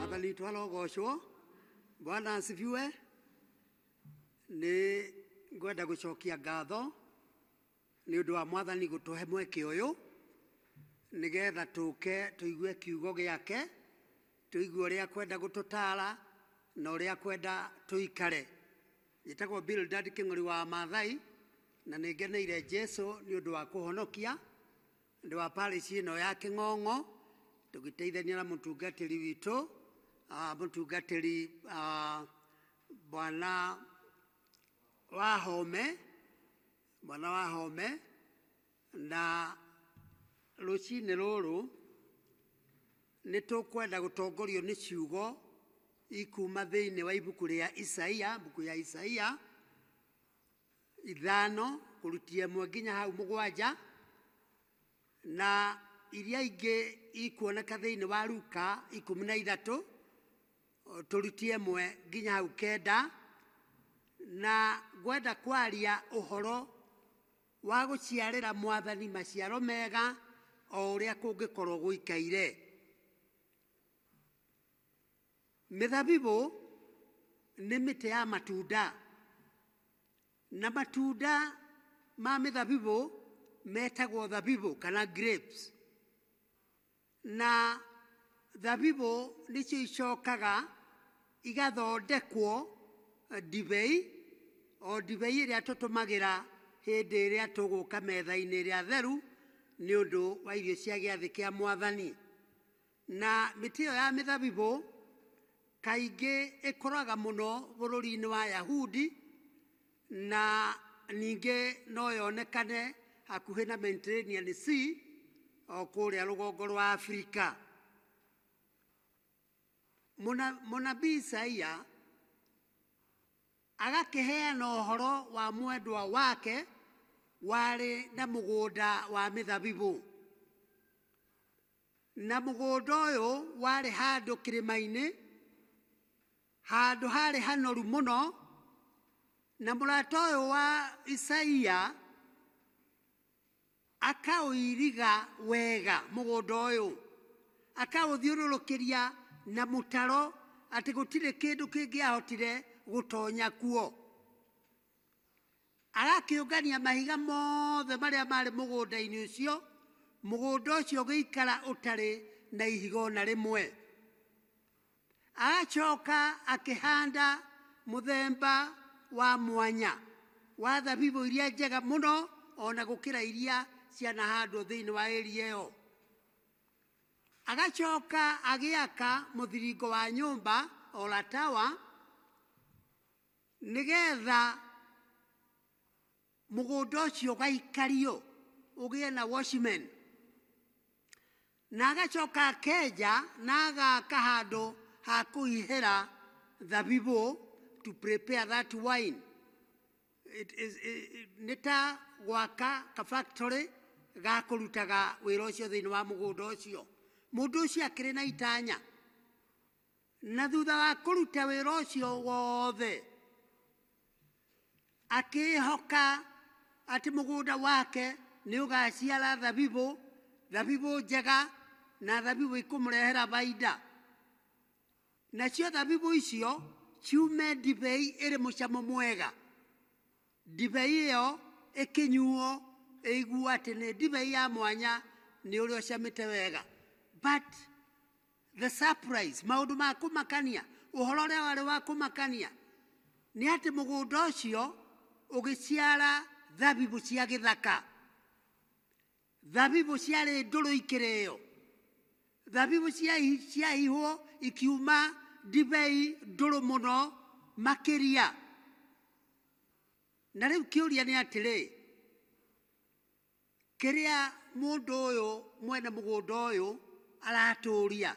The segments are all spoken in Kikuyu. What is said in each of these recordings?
Wakaliitwa logoshwo bwana asifiwe nĩ ngwenda gũcokia ngatho nĩ ũndũ wa mwathani gũtũhe mweke ũyũ nĩgetha tũke tũigue kiugo gĩake tũigue ũrĩa kwenda gũtũtara na ũrĩa kwenda tũikare njĩtagwo Bildad kĩng'ori wa Maathai na nĩngeneire Jesu nĩ ũndũ wa kũhonokia Andũ a parish ĩno ya Kĩng'ong'o tũgĩteithania na mũtungatĩri witũ ah, mũtungatĩri ah, bwana Wahome, bwana Wahome na rũcinĩ rũrũ nĩ tũkwenda gũtongorio nĩ ciugo ikuma thĩinĩ wa ibuku rĩa Isaia, mbuku ya Isaia ithano kũrutia ĩmwe nginya hau mũgwanja na iria ingĩ ikuoneka thĩinĩ wa Luka ikũmi na ithatũ o, tũrutie ĩmwe nginya hau kenda na ngwenda kwaria ũhoro wa gũciarĩra mwathani maciaro mega o ũrĩa kũngĩkorwo gũikaire Mĩthabibũ nĩ mĩtĩ ya matunda, na matunda ma mĩthabibũ metagwo thabibũ kana grapes. Na thabibũ nĩcio icokaga igathondekwo ndibei, o ndibei ĩrĩa tũtũmagĩra hĩndĩ ĩrĩa tũgũka metha-inĩ ĩrĩa theru nĩ ũndũ wa irio cia gĩathĩ kĩa Mwathani. Na mĩtĩ ĩyo ya mĩthabibũ kaingĩ ĩkũraga mũno bũrũri-inĩ wa Yahudi, na ningĩ no yonekane hakuhĩ na Mediterranean Sea o kũrĩa rũgongo rwa Afrika. Mũna- Mũnabii Isaia agakĩheana ũhoro wa mwendwa wake warĩ na mũgũnda wa mĩthabibũ. Na mũgũnda ũyũ warĩ handũ kĩrĩma-inĩ, handũ harĩ hanoru mũno, na mũrata ũyũ wa Isaia akaũiriga wega mũgũnda ũyũ, akaũthiũrũrũkĩria na mũtaro atĩ gũtirĩ kĩndũ kĩngĩahotire gũtonya kuo. Agakĩũngania mahiga mothe marĩa maarĩ mũgũnda-inĩ ũcio, mũgũnda ũcio ũgĩikara ũtarĩ na ihiga o na rĩmwe. Agacoka akĩhanda mũthemba wa mwanya wa thabibũ iria njega mũno o na gũkĩra iria cianahandwo thĩinĩ wa area ĩyo. Agacoka agĩaka mũthiringo wa nyũmba, ola tower, nĩgetha mũgũnda ũcio ũgaikario ũgĩe na watchman na agacoka akenja na agaka handũ ha kũihĩra thabibũ to prepare that wine It is- i- i- nĩ ta gwaka ka factory ga kũrutaga wĩra ũcio thĩinĩ wa mũgũnda ũcio mũndũ ũcio akĩrĩ na itanya Na thutha wa kũruta wĩra ũcio wothe, akĩĩhoka atĩ mũgũnda wake nĩ ũgaaciara thabibũ, thabibũ njega na thabibũ ikũmũrehera baida. Nacio thabibũ icio ciume ndibei ĩrĩ mũcamo mwega. Ndibei ĩyo ĩkĩnyuo ĩiguo atĩ nĩ ndibei ya mwanya nĩ ũrĩa ũcamĩte wega. But the surprise maundu ma kumakania uhoro uria wari wa kumakania ni ati mugunda ucio ugiciara thabibu cia githaka thabibu ciari nduru ikireo thabibu ciahi- ciahihwo ikiuma ndibei nduru muno makiria na riu kiuria ni atiri Kĩrĩa mũndũ ũyũ mwene mũgũnda ũyũ aratũria,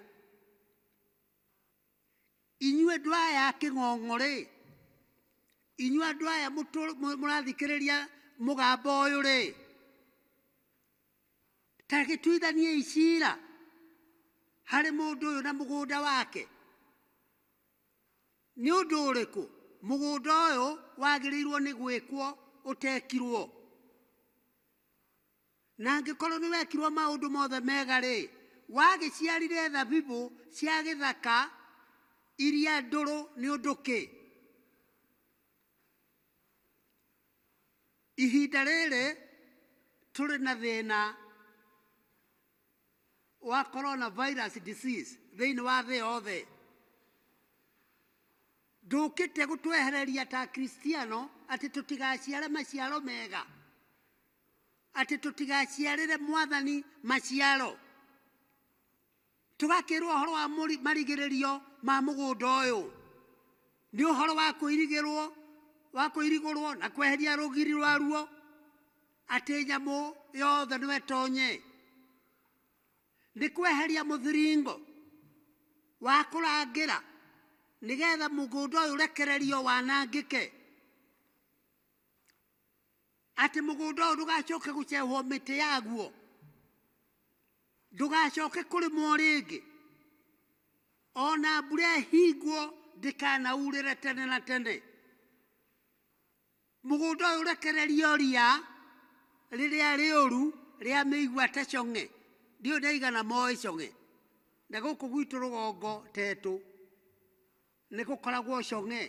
inyuĩ andũ aya a Kĩng'ong'o-rĩ, inyuĩ andũ aya mũrathikĩrĩria mũgambo ũyũ-rĩ, ta gĩtuithaniei cira harĩ mũndũ ũyũ na mũgũnda wake. Nĩ ũndũ ũrĩkũ mũgũnda ũyũ wagĩrĩirwo nĩ gwĩkwo ũtekirwo? Na angĩkorwo nĩ wekirwo maũndũ mothe mega-rĩ, wagĩciarire thabibũ cia gĩthaka iria ndũrũ nĩ ũndũ kĩ? Ihinda rĩrĩ tũrĩ na thĩna wa coronavirus disease thĩinĩ wa thĩ yothe ndũkĩte gũtwehereria ta kristiano atĩ tũtigaciare maciaro mega atĩ tũtigaciarĩre mwathani maciaro tũgakĩrwo ũhoro wa mũri- marigĩrĩrio ma mũgũnda ũyũ nĩ ũhoro wa kũirigĩrwo wa kũirigũrwo na kweheria rũgiri rwaruo atĩ nyamũ yothe no ĩtonye nĩ kweheria mũthiringo wa kũrangĩra nĩgetha mũgũnda ũyũ ũrekererio wanangĩke atĩ mũgũnda ũyũ ndũgacoke gũcehwo mĩtĩ yaguo ndũgacoke kũrĩmwo rĩngĩ ona mbura ĩhingwo ndĩkanaurĩre tene na tene Mũgũnda ũyũ ũrekererio ria rĩrĩa rĩũru rĩa mĩigua ta cong'e. Ndiũĩ ndaigana moĩ cong'e. Na gũkũ gwitũ rũgongo tetũ nĩ gũkoragwo cong'e.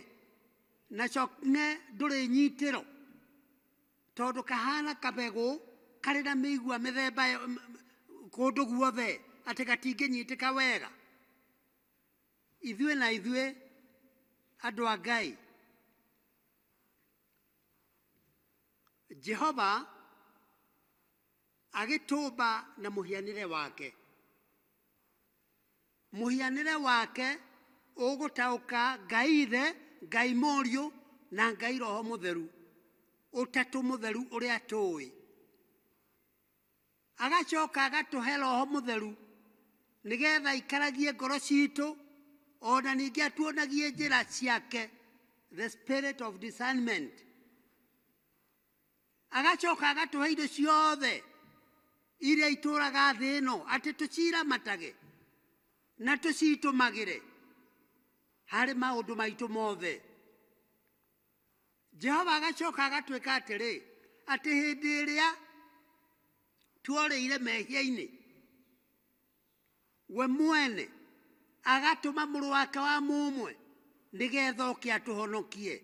Na cong'e ndũrĩ nyitĩro tondũ kahana kabegũ karĩ na mĩigua mĩthemba kũndũ guothe atĩ gatingĩnyitĩka wega. Ithuĩ na ithuĩ andũ a Ngai. jehova agĩtũmba na mũhianĩre wake mũhianĩre wake ũgũtaũka ngai ithe ngai mũriũ na ngai roho mũtheru ũtatũ mũtheru ũrĩa tũĩ agacoka agatũhe roho mũtheru nĩgetha aikaragie ngoro citũ ona ningĩ atuonagie njĩra ciake the spirit of discernment agacoka agatũhe indo ciothe iria itũraga thĩ ĩno atĩ tũciramatage na tũcitũmagĩre harĩ maũndũ maitũ mothe jehova agacoka agatwĩka atĩrĩ atĩ hĩndĩ ĩrĩa tuorĩire mehia-inĩ we mwene agatũma mũrũ wake wa mũmwe nĩgetha oke atũhonokie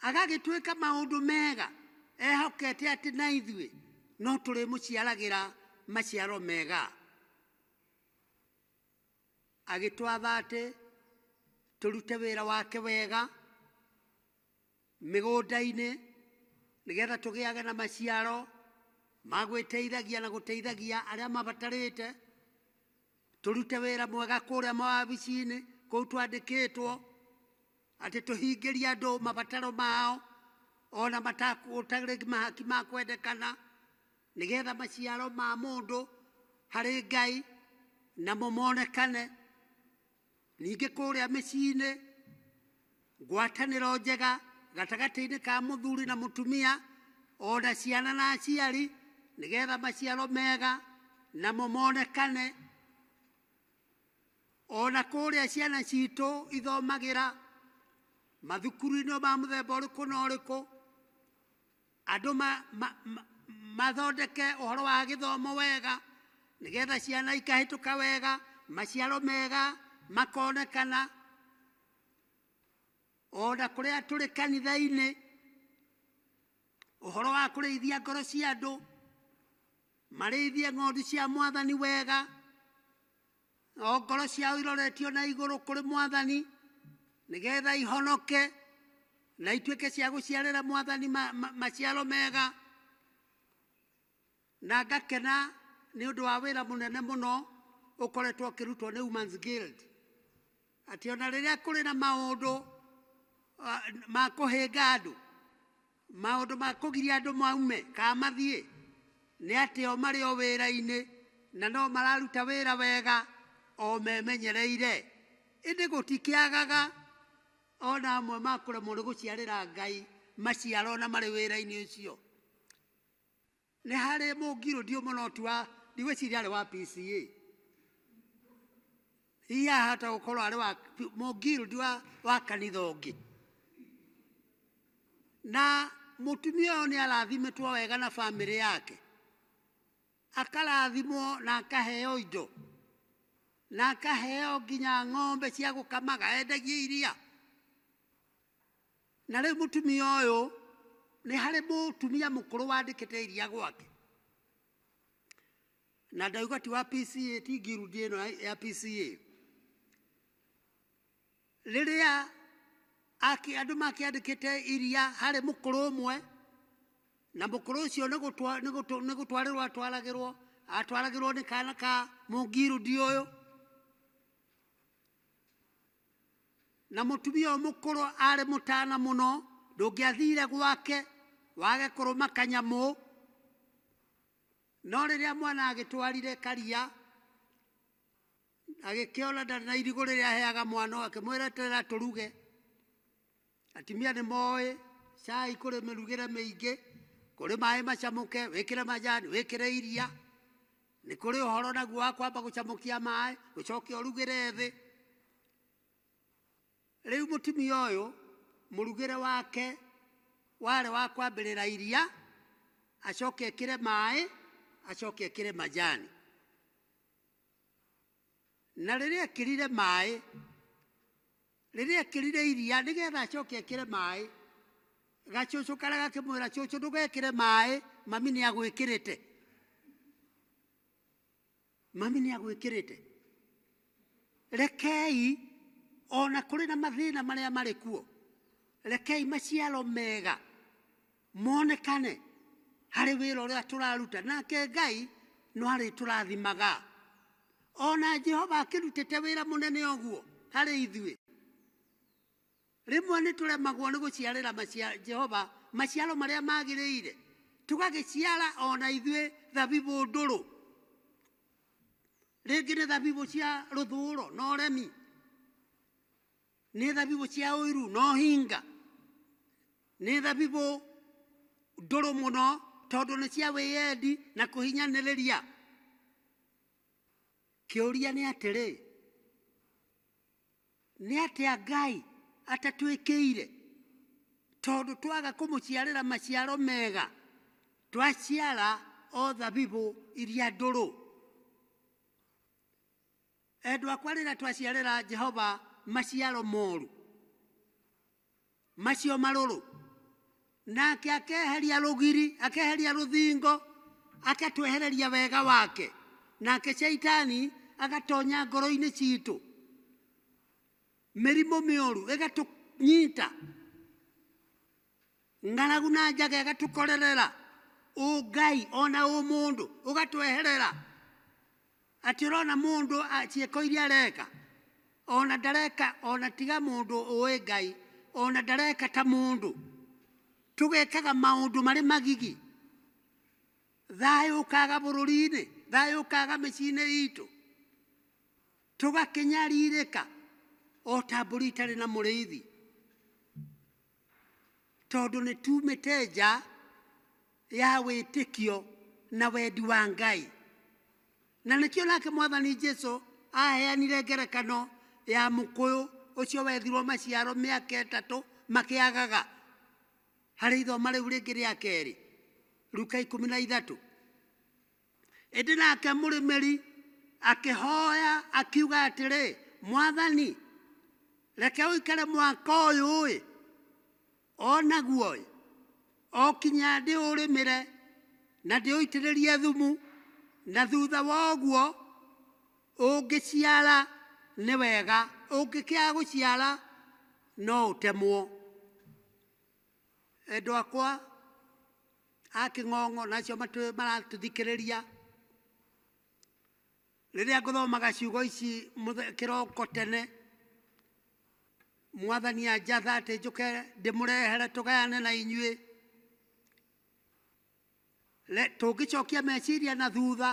agagĩtuĩka maũndũ mega ehokete atĩ na ithuĩ no tũrĩmũciaragĩra maciaro mega agĩtwatha atĩ tũrute wĩra wake wega mĩgũnda-inĩ nĩgetha tũgĩage na maciaro ma gwĩteithagia na gũteithagia arĩa mabatarĩte, tũrute wĩra mwega kũrĩa mawabici-inĩ kũu twandĩkĩtwo, atĩ tũhingĩrie andũ mabataro mao ona matakũ- gũtarĩ mahaki ma kwendekana. Nĩgeetha maciaro ma mũndũ harĩ Ngai namo monekane. Ningĩ kũũrĩa mĩciinĩ, ngwatanĩro njega gatagatĩinĩ ka mũthuri na mũtumia, o na ciana na aciari, nĩgeetha maciaro mega namo monekane. O na kũũrĩa ciana ciitũ ithomagĩra, mathukuruinĩ ma mũthemba ũrĩkũ na ũrĩkũ. Andũ mathondeke ũhoro wa gĩthomo wega nĩgetha ciana ikahĩtũka wega, maciaro mega makonekana. Ona kũrĩa tũrĩ kanitha-inĩ, ũhoro wa kũrĩithia ngoro cia andũ, marĩithie ng'ondu cia Mwathani wega. o ngoro ciao iroretio na igũrũ kũrĩ mwathani nĩgetha ihonoke na ituĩke cia gũciarĩra mwathani ma- ma- maciaro mega na ngakena nĩ ũndũ wa wĩra mũnene mũno ũkoretwo ũkĩrutwo nĩ Women's Guild atĩ ona rĩrĩa kũrĩ na maũndũ ah, ma kũhĩnga andũ maũndũ ma kũgiria andũ maume kana mathiĩ nĩ atĩ o marĩ o wĩra-inĩ na no mararuta wĩra wega o memenyereire ĩndĩ gũtikĩagaga ona amwe ma kũremwo nĩ gũciarĩra ngai maciaro na marĩ wĩra-inĩ ũcio Nĩ harĩ mũngirũndi ũmwe no tu wa ndigwĩciria arĩ wa PCA hihi ahota gũkorwo arĩ wa mũngirũndi wa, wa kanitha ũngĩ na mũtumia ũyũ nĩ arathimĩtwo wega na bamĩrĩ yake akarathimwo na akaheo indo na akaheo nginya ng'ombe cia gũkamaga endagie iria Na rĩu mũtumia ũyũ nĩ harĩ mũtumia mũkũrũ wandĩkĩte iria gwake na ndauga ti wa PCA ti ngirundi ĩno ya- ya PCA rĩrĩa aki- andũ makĩandĩkĩte iria harĩ mũkũrũ ũmwe na mũkũrũ ũcio nĩ gũtwa- nĩ gũtwa- nĩ gũtwarĩrwo atwaragĩrwo atwaragĩrwo nĩ kana ka mũngirundi ũyũ na mũtumia ũyũ mũkũrũ arĩ mũtana mũno ndũngĩathire gwake wage kũrũma kanyamũ no rĩrĩa mwana agĩtwarire karia agĩkĩona ndarĩ na irigũ rĩrĩa aheaga mwana ũyũ akĩmwĩra eterera tũruge Atumia nĩ moĩ cai kũrĩ mĩrugĩre mĩingĩ, kũrĩ maĩ macamũke, wĩkĩre majani, wĩkĩre iria. Nĩ kũrĩ ũhoro naguo wa kwamba gũcamũkia maĩ, ũcoke ũrugĩre thĩ. Rĩu mũtumia ũyũ mũrugĩre wake warĩ wa kwambĩrĩra iria, acoke ekĩre maĩ, acoke ekĩre majani. na rĩrĩa ekĩrire maĩ rĩrĩa ekĩrire iria nĩgetha acoke ekĩre maĩ gacucu karĩa gakĩmwĩra cucu ndũgekĩre maĩ mami nĩ agwĩkĩrĩte mami nĩ agwĩkĩrĩte rekei ona kũrĩ na mathĩna marĩa marĩ kuo rekei maciaro mega monekane harĩ wĩra ũrĩa tũraruta nake ngai no arĩtũrathimaga ona jehova akĩrutĩte wĩra mũnene ũguo harĩ ithuĩ rĩmwe nĩ tũremagwo nĩ gũciarĩra macia- jehova maciaro marĩa magĩrĩire tũgagĩciara ona ithuĩ thabibũ ndũrũ rĩngĩ nĩ thabibũ cia rũthũũro na ũremi Nĩ thabibũ cia ũiru na ũhinga, nĩ thabibũ ndũrũ mũno tondũ nĩ cia wĩyendi na kũhinyanĩrĩria. Kĩũria nĩ atĩrĩ, nĩ atĩa Ngai atatwĩkĩire tondũ twaga kũmũciarĩra maciaro mega, twaciara o thabibũ iria ndũrũ? Endwa akwa, rĩrĩa twaciarĩra Jehova maciaro moru macio marũrũ, nake akeheria rũgiri, akeheria rũthingo, agatwehereria wega wake, nake caitani agatonya ngoro-inĩ citũ, mĩrimũ mĩũru ĩgatũnyita, ng'aragu na njaga ĩgatũkorerera ũngai ona ũmũndũ ũgatweherera atĩ ũrona mũndũ a- ciĩko iria areka ona ndareka ona tiga mũndũ ũĩ ngai ona ndareka ta mũndũ tũgekaga maũndũ marĩ magigi thayũ ũkaga bũrũri-inĩ thayũ ũkaga mĩciĩ-inĩ itũ tũgakĩnyarirĩka o ta mbũri itarĩ na mũrĩithi tondũ nĩ tumĩte nja ya wĩtĩkio na wendi wa Ngai. Na nĩkĩo nake mwathani Jesu aheanire ngerekano ya mũkũyũ ũcio wethirwo maciaro mĩaka ĩtatũ makĩagaga harĩ ithoma rĩu rĩngĩ rĩa kerĩ ruka ikũmi na ithatũ Ĩndĩ nake mũrĩmĩri akĩhoya akiuga atĩrĩ, Mwathani, reke ũikare mwaka ũyũ-ĩ, o naguo-ĩ, o kinya ndĩũrĩmĩre na ndĩũitĩrĩrie thumu, na thutha wa ũguo ũngĩciara nĩ wega, ũngĩkĩaga gũciara no ũtemwo. Endwa akwa a Kĩng'ong'o na acio matũ- maratũthikĩrĩria, rĩrĩa ngũthomaga ciugo ici mũthe- kĩroko tene, mwathani anjatha atĩ njũke ndĩmũrehere tũgayane na inyuĩ, re- tũngĩcokia meciria na thutha,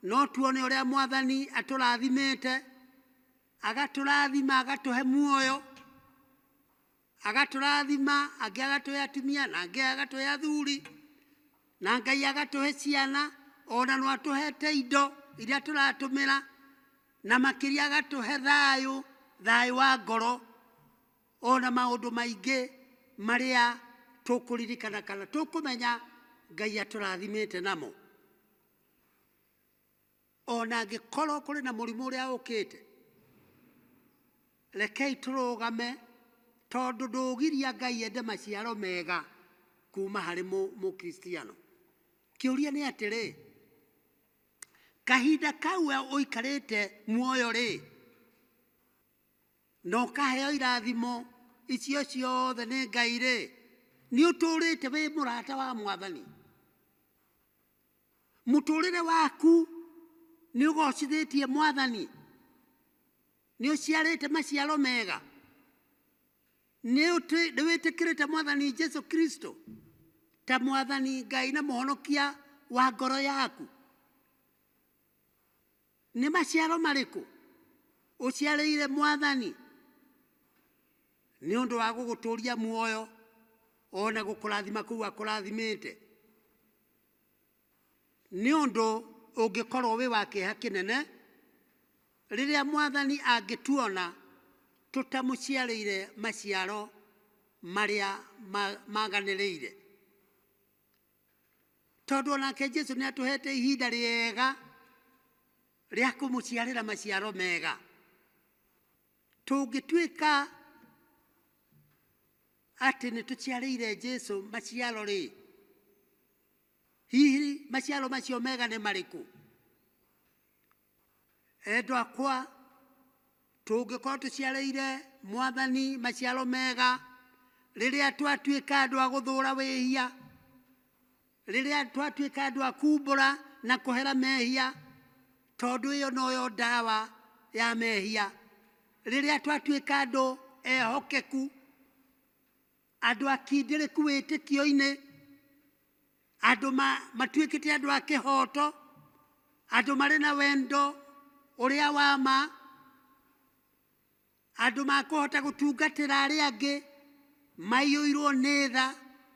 no tuone ũrĩa mwathani atũrathimĩte, agatũrathima agatũhe muoyo, agatũrathima angĩ agatũhe atumia na angĩ agatũhe athuri na ngai agatũhe ciana ona no atũhete indo iria tũratũmĩra na makĩria agatũhe thayũ thayũ wa ngoro ona maũndũ maingĩ marĩa tũkũririkana kana tũkũmenya ngai atũrathimĩte namo ona angĩkorwo kũrĩ na mũrimũ ũrĩa ũkĩte rekei tũrũgame tondũ ndũgiria ngai ende maciaro mega kuma harĩ mũ- mũkristiano kĩũria nĩ atĩrĩ kahinda kau we ũikarĩte muoyo rĩ na ũkaheo irathimo icio ciothe nĩ ngai rĩ nĩ ũtũrĩte wĩ mũrata wa mwathani mũtũrĩre waku nĩ ũgocithĩtie mwathani nĩ ũciarĩte maciaro mega nĩ ũtĩ- nĩ wĩtĩkĩrĩte mwathani jesu kristo ta mwathani ngai na mũhonokia wa ngoro yaku Nĩ maciaro marĩkũ ũciarĩire Mwathani nĩ ũndũ wa gũgũtũria muoyo o na gũkũrathima kũu akũrathimĩte? Nĩ ũndũ ũngĩkorwo wĩ wa kĩeha kĩnene rĩrĩa Mwathani angĩtuona tũtamũciarĩire maciaro marĩa maganĩrĩire. tondũ onake jesu nĩ atũhete ihinda rĩega rĩa kũmũciarĩra maciaro mega tũngĩtuĩka atĩ nĩ tũciarĩire jesu maciaro rĩ hihi maciaro macio mega nĩ marĩkũ Endwa akwa, tũngĩkorwo tũciarĩire Mwathani maciaro mega, rĩrĩa twatuĩka andũ a gũthũũra wĩhia, rĩrĩa twatuĩka andũ a kumbũra na kũhera mehia, tondũ ĩyo noyo ndawa ya mehia, rĩrĩa twatuĩka andũ ehokeku, andũ akindĩrĩku wĩtĩkio-inĩ, andũ matuĩkĩte andũ a kĩhooto, andũ marĩ na wendo ũrĩa wa ma, andũ makũhota gũtungatĩra arĩa angĩ maiyũirwo nĩ tha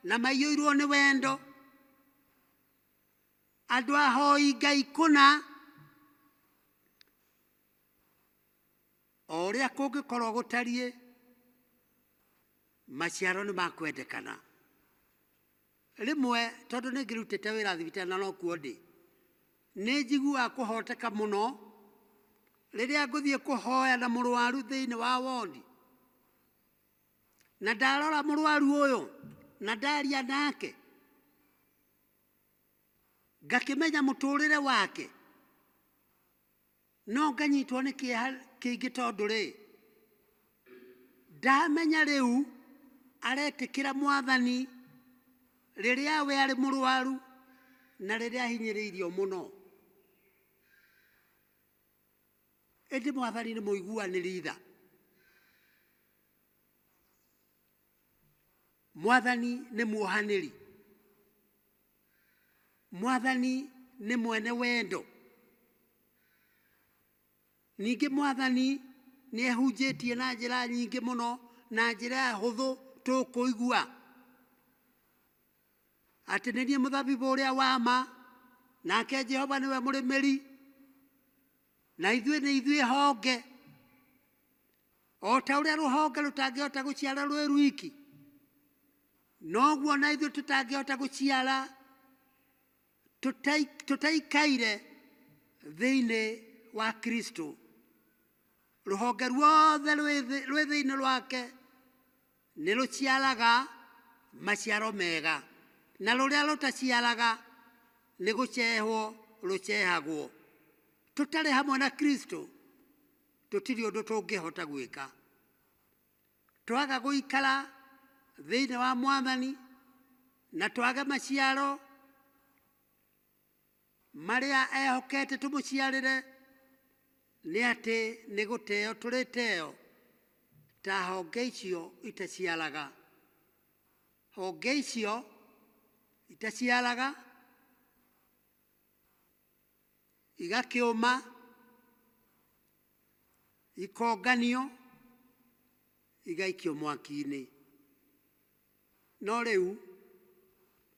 na maiyũirwo nĩ wendo, andũ ahoi Ngai kũna. O ũrĩa kũngĩkorwo gũtariĩ, maciaro nĩ makwendekana. Rĩmwe tondũ nĩ ngĩrutĩte wĩra thibitarĩ na nokuo ndĩ, nĩ njiguaga kũhoteka mũno rĩrĩa ngũthiĩ kũhoya na mũrwaru thĩinĩ wa wondi. Na ndarora mũrwaru ũyũ na ndaria nake, ngakĩmenya mũtũrĩre wake, no nganyitwo nĩ kĩeha kĩingĩ tondũ rĩ ndamenya rĩu aretĩkĩra mwathani rĩrĩa we arĩ mũrwaru na rĩrĩa ahinyĩrĩirio mũno ĩndĩ mwathani nĩ mũiguanĩri tha mwathani nĩ muohanĩri Mwathani nĩ mwene wendo. Ningĩ mwathani nĩ ehunjĩtie na njĩra nyingĩ mũno na njĩra hũthũ tũkũigua atĩ nĩ niĩ mũthabibũ ũrĩa wa ma nake Jehova nĩwe mũrĩmĩri Na ithuĩ nĩ ithuĩ honge, o ta ũrĩa rũhonge rũtangĩhota gũciara rwĩ rwiki, noguo na ithuĩ tũtangĩhota gũciara tũtai- tũtaikaire thĩinĩ wa Kristo. Rũhonge ruothe rwĩ thĩ- rwĩ thĩinĩ wake Nĩ rũciaraga maciaro mega, na rũrĩa rũtaciaraga nĩ gũcehwo rũcehagwo. Tũtarĩ hamwe na Kristo tũtirĩ ũndũ tũngĩhota gwĩka. Twaga gũikara thĩinĩ wa Mwathani na twage maciaro, Marĩa ehokete tũmũciarĩre nĩ atĩ nĩ gũteo tũrĩteo ta honge icio itaciaraga. Honge icio itaciaraga igakĩũma, ikonganio, igaikio mwaki-inĩ. No rĩu...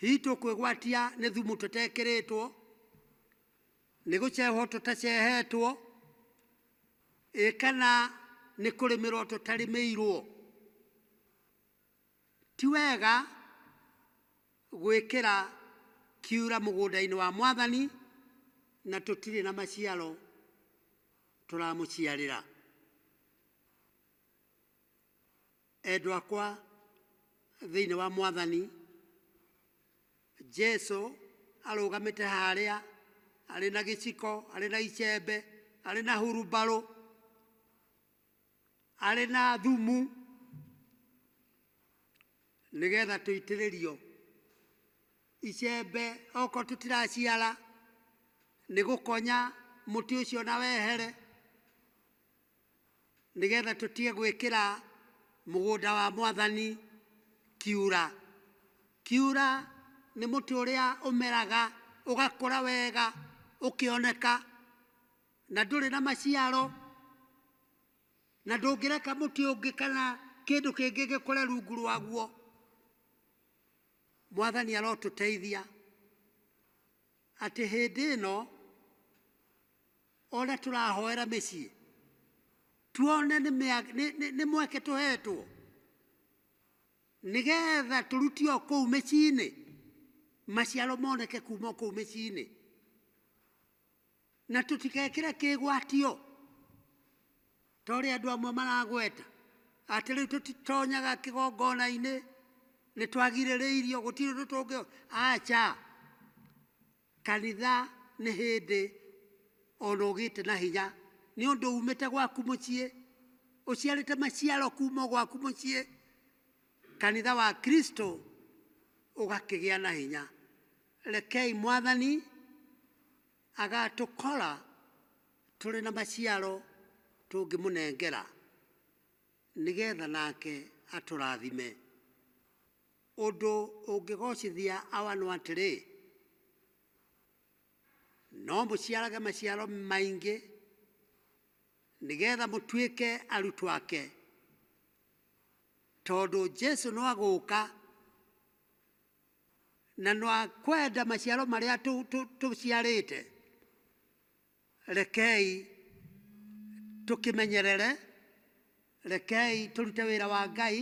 Hihi tũkwĩgwatia nĩ thumu tũtekĩrĩtwo, nĩ gũcehwo tũtacehetwo, ĩ kana nĩ kũrĩmĩrwo tũtarĩmĩirwo? Ti wega gwĩkĩra kiura mũgũnda-inĩ wa mwathani, na tũtirĩ na maciaro tũramũciarĩra. Endwa akwa thĩinĩ wa Mwathani, Jesu arũgamĩte harĩa arĩ na gĩciko, arĩ na icembe, arĩ na hurumbarũ, arĩ na thumu, nĩgetha tũitĩrĩrio icembe oko tũtiraciara, nĩ gũkonya mũtĩ ũcio na wehere. nĩgetha tũtige gwĩkĩra mũgũnda wa mwathani kiura. Kiura nĩ mũtĩ ũrĩa ũmeraga ũgakũra wega ũkĩoneka na ndũrĩ na maciaro na ndũngĩreka mũtĩ ũngĩ kana kĩndũ kĩngĩ gĩkũre rungu rwaguo. Mwathani arotũteithia Atĩ hĩndĩ ĩno o ũrĩa tũrahoera mĩciĩ tuone nĩ mĩa- nĩ- nĩ- nĩ mweke tũhetwo nĩgetha tũrutio kũu mĩciĩ-inĩ maciaro moneke kuma kũu mĩciĩ-inĩ na tũtigekĩre kĩgwatio Ta ũrĩa andũ amwe maragweta atĩ rĩu tũtitonyaga kĩgongona-inĩ, nĩ twagirĩrĩirio, gũtirĩ ũndũ tũngĩ. Aca, kanitha nĩ hĩndĩ ona ũgĩte na hinya nĩ ũndũ umĩte gwaku mũciĩ, ũciarĩte maciaro kuma o gwaku mũciĩ, kanitha wa Kristo ũgakĩgĩa na hinya. Rekei Mwathani... Agaatũkora tũrĩ na maciaro tũngĩmũnengera, nĩgeetha nake atũrathime. Ũndũ ũngĩgoocithia awa nũ atĩrĩ, No mũciarage maciaro maingĩ, nĩgeetha mũtuĩke arutwo ake. Tondũ Jesũ nũagũũka na nwa kwenda maciaro marĩa tũ- tũ- tũciarĩte rekei tũkĩmenyerere rekei tũrute wĩra wa ngai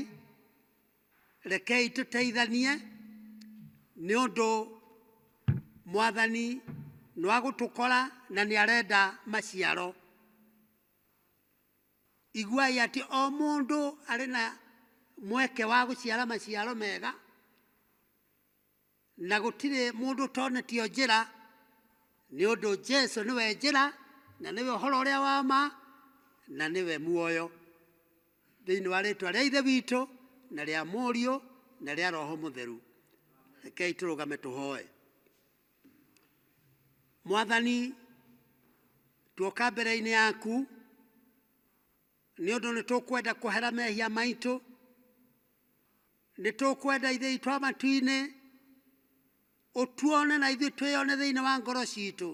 rekei tũteithanie nĩ ũndũ mwathani nĩwagũtũkora na nĩarenda maciaro Iguai atĩ o mũndũ arĩ na mweke wa gũciara maciaro mega, na gũtirĩ mũndũ ũtonetio njĩra, nĩ ũndũ Jesu nĩwe njĩra, na nĩwe ũhoro ũrĩa wa ma, na nĩwe muoyo. Thĩinĩ wa rĩtwa rĩa Ithe witũ, na rĩa Mũriũ, na rĩa Roho Mũtheru, rekei tũrũgame tũhoe. mwathani tuoka mbere-inĩ yaku nĩ ũndũ nĩ tũkwenda kwehera mehia maitũ nĩ tũkwenda ithe itũ a matu-inĩ ũtuone na ithuĩ twĩyone thĩinĩ wa ngoro citũ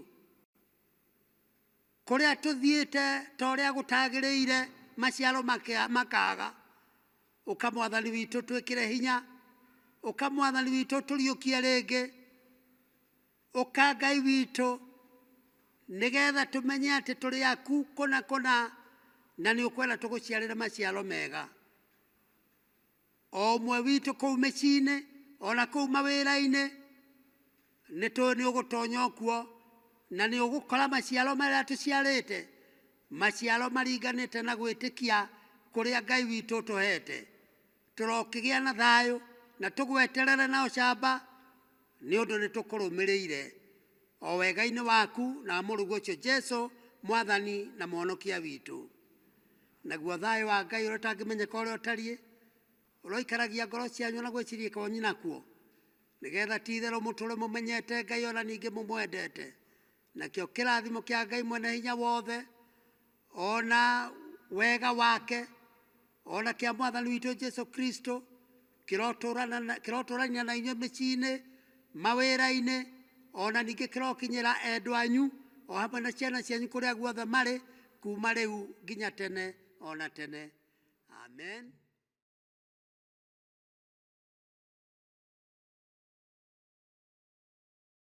Kũrĩa tũthiĩte ta ũrĩa gũtagĩrĩire maciaro makea- makaga, ũka mwathani witũ twĩkĩre hinya, ũka mwathani witũ tũriũkie rĩngĩ, ũka Ngai witũ nĩgetha tũmenye atĩ tũrĩ aku kũna kũna na nĩ ũkwenda tũgũciarĩre maciaro mega. O ũmwe witũ kũu mĩciĩ-inĩ, o na kũu mawĩra-inĩ, nĩ tũĩ nĩ ũgũtonya o kuo, na nĩ ũgũkora maciaro marĩa tũciarĩte, maciaro maringanĩte na gwĩtĩkia kũrĩa Ngai witũ ũtũhete. Tũrokĩgĩa na thayũ, na tũgweterere na ũcamba, nĩ ũndũ nĩ tũkũrũmĩrĩire, o wega-inĩ waku na wa Mũrũguo ũcio Jesu, Mwathani na Mũhonokia witũ. Naguo thayũ wa Ngai ũrĩa ũtangĩmenyeka ũrĩa ũtariĩ ũroikaragia ngoro cianyu na gwĩciria kwanyu nakuo nĩ getha ti itherũ mũtũre mũmenyete Ngai ona ningĩ mũmwendete nakĩo kĩrathimo kĩa Ngai mwene hinya wothe ona wega wake ona kĩa mwathani witũ Jesu Kristo kĩrotũũrana na- kĩrotũũrania na inyuĩ mĩciĩ-inĩ mawĩra-inĩ o na ningĩ kĩrokinyĩra endwa anyu o hamwe na ciana cianyu kũrĩa guothe marĩ kuma rĩu nginya tene o na tene amen